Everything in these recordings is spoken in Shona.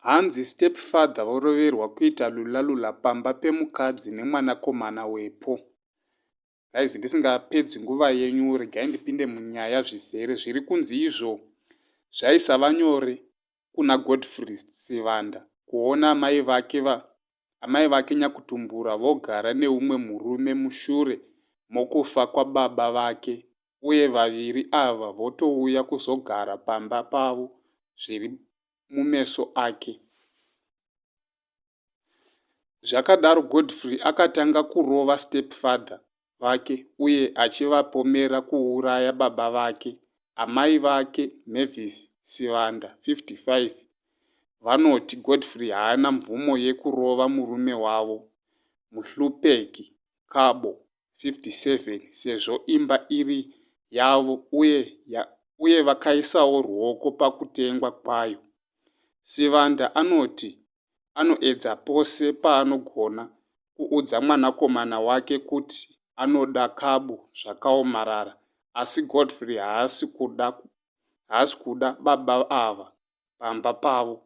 Hanzi stepfather voroverwa kuita lulalula pamba pemukadzi nemwanakomana wepo. Guys ndisingapedzi nguva yenyu regai ndipinde munyaya zvizere zviri kunzi izvo zvaisava nyore kuna Godfrey Sivanda kuona amai vake va amai vake nyakutumbura vogara neumwe murume mushure mokufa kwababa vake uye vaviri ava votouya kuzogara pamba pavo zviri mumeso ake. Zvakadaro Godfrey akatanga kurova stepfather vake uye achivapomera kuuraya baba vake. Amai vake, Mavis Sivanda, 55, vanoti Godfrey haana mvumo yekurova murume wavo, Muhlupeki Kabo, 57, sezvo imba iri yavo uye ya, uye vakaisawo ruoko pakutengwa kwayo. Sivanda anoti anoedza pose paanogona kuudza mwanakomana wake kuti anoda Cabo zvakaomarara asi Godfrey haasi kuda haasi kuda baba ava pamba pavo.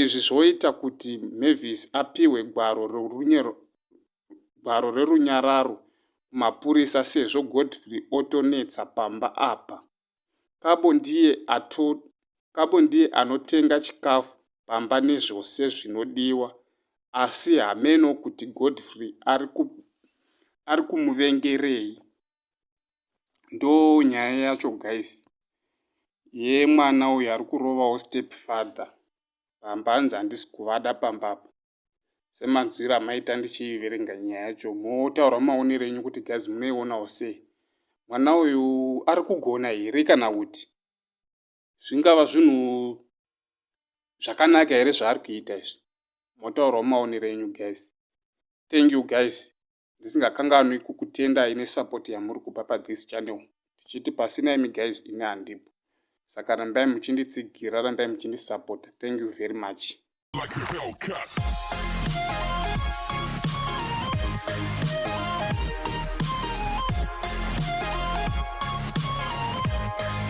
Izvi zvoita kuti Mavis apihwe gwaro rerunyero gwaro rerunyararo kumapurisa sezvo Godfrey otonetsa pamba apa. Kabo ndiye ato Kabo ndiye anotenga chikafu pamba nezvose zvinodiwa asi hameno kuti Godfrey ari ku ari kumuvengerei ndo nyaya yacho guys ye mwana uyu ari kurovawo step father pamba hanzi handisi kuvada pamba apa semanzwiro amaita ndichiverenga nyaya yacho motaura maonero enyu kuti gaz munoionawo sei mwana uyu ari kugona here kana kuti zvingava zvinhu zvakanaka here zvaari kuita izvi motaurawo maonero enyu guys thank you guys ndisingakanganwi kukutendai nesupport yamuri kupa pathis channel tichiti pasina imi guys ini handipo saka rambai muchinditsigira rambai muchindisupporta thank you very much